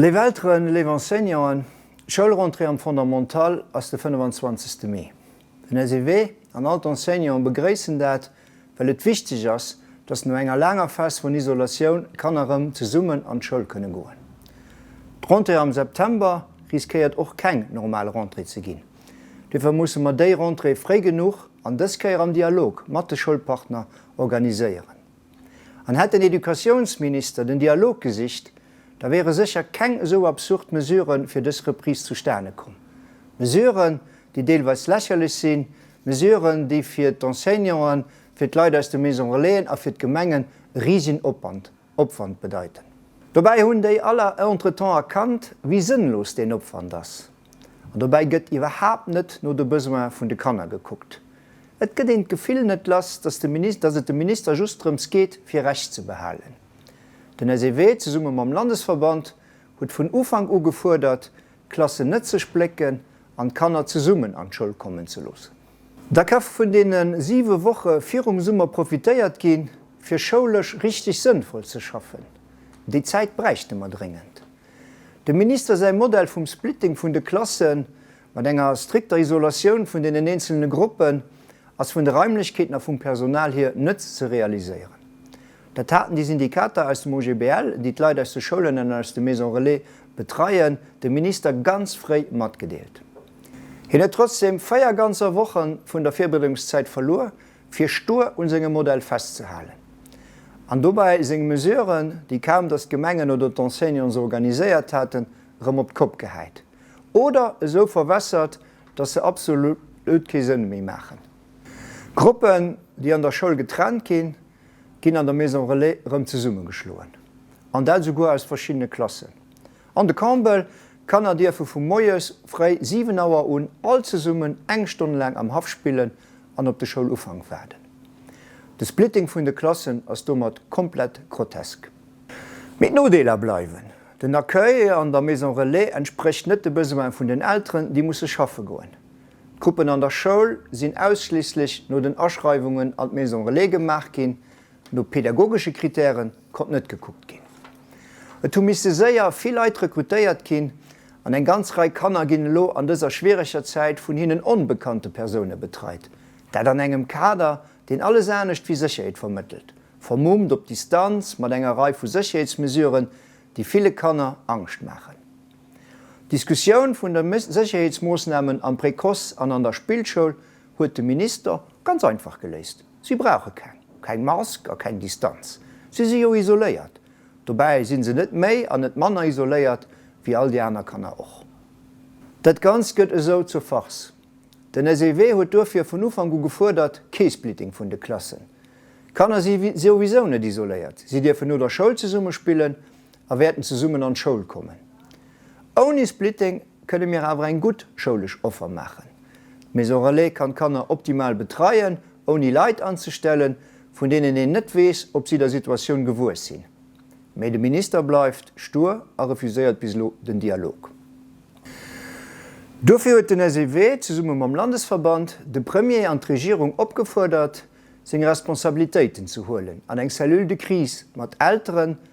Léif Elteren, léif Enseignanten, Schoulrentrée am Fondamental ass de 25 Mee. Den SEW an all d'Enseignanten begréissen dat, well et wichteg ass, dass no enger laanger Phase vun Isolatioun d'Kanner rëm zesummen an d'Schoul kënne goen. D'Rentrée am September riskéiert och keng normal Rentrée ze ginn. Duerfir musse mer déi Rentrée fréi genuch an dës Kéier am Dialog mat de Schoulpartner organiséieren. An hätt den Educatiounsminister den Dialog gesicht, da wiere sécher keng esou absurd Mesure fir dës Reprise zustane komm. Mesuren, déi deelweis lächerlech sinn, Mesuren, déi fir d'Enseignanten, fir d'Leit aus de Maisons relaisen a fir d'Gemengen e risegen Opwand, Opwand bedeiten. Dobäi hunn déi aller entretemps erkannt, wéi sënnlos deen Opwand ass. An dobäi gëtt iwwerhaapt net no de Besoin vun de Kanner gekuckt. Et gëtt een d'Gefill net lass, datt de Minis-, datt et dem Minister just drëms geet, fir Recht ze behalen. Den SEW, zesumme mam Landesverband, huet vun Ufank u gefuerdert, d'Klassen net ze splécken an d'Kanner zesummen an d'Schoul kommen ze loossen. Da ka vun deene siwe Woche virum Summer profitéiert gi fir schoulesch richteg sënnvoll ze schaffen. Déi Zäit bräichte mer dréngend. Dem Minister säi Modell vum Splitting vun de Klassen, mat enger strikter Isolatioun vun deenen eenzelne Gruppen, ass vun de Raimlechkeeten a vum Personal hier net ze realiséieren. Dat haten déi Syndikater aus dem OGBL, déi d'Leit aus de Schoulen an aus de Maisons relais betreien, dem Minister ganz fréi matgedeelt. Hien huet trotzdeem véier ganzer Wochen vun der Virbereedungszäit verluer, fir stur un sengem Modell festzehalen an dobäi seng Mesuren, déi kaum dass d'Gemengen oder d'Enseignants se organiséiert haten, erëm op d'Kopp gehäit oder esou verwässert, dass se absolut kee Sënn méi maachen. Gruppen, déi an der Schoul getrennt ginn, ginn an der Maison relais erëm zesummegeschloen, an dat esouguer aus verschiddene Klassen. An de Campbell Kanner dierfe vu moies fréi 7 Auer un all zesummen eng Stonn laang am Haff spillen an op de Schoulufank waarden. De Splitting vun de Klassen ass domat komplett grotesk. Mee d'Nodeeler bleiwen, Den Accueil an der Maison Relais entsprécht net de Besoine vun den Elteren, déi musse schaffe goen. D'Gruppen an der Schoul sinn ausschliisslech no den Aschreiwungen an d'Maison Relais gemaach ginn, No pädagogesche Kritäre konnt net gekuckt ginn. Et hu misste séier vill Leit rekrutéiert ginn an eng ganz Rei Kanner ginn elo an dëser schwiereger Zäit vun hinnen onbekannte Persoune betreit. Dat an engem Kader, deen alles anescht wéi Sécherheet vermëttelt, vermummt op Distanz mat enger Rei vu Sécherheetsmesuren, déi ville Kanner Angscht maachen. D'Diskussioun vun de Sécherheetsmoossnamen am Précoce an an der Spillschoul huet de Minister ganz einfach geléist. Si brauche keng, keng Mask a keng Distanz. Si si jo isoléiert. Dobäi si se net méi an net manner isoléiert wéi all déi aner Kanner och. Dat Ganzt gëtt esou zur Farce. Den SEW huet duerfir vun Ufank u gefuerdert, kee Splitting vun de Klassen. D'Kanner si souwisou net isoléiert. Si dierfen no der Schoul zesumme spillen a wäerten zesummen an d'Schoul kommen. Ouni Splitting kënne mir awer eng gutt schoulesch Offer maachen. D'Maison Relais kann d'Kanner optimal betreien, ouni Leit anzestellen, vun deenen een net weess, ob si der Situatioun gewuess sinn. Mee de Minister bleift stur a refuséiert bis elo den Dialog. Duerfir huet den SEW zesumme mam Landesverband de Premier an d'Regierung opgefuerdert, seng Responsabilitéiten ze huelen an eng Cellule de crise mat Elteren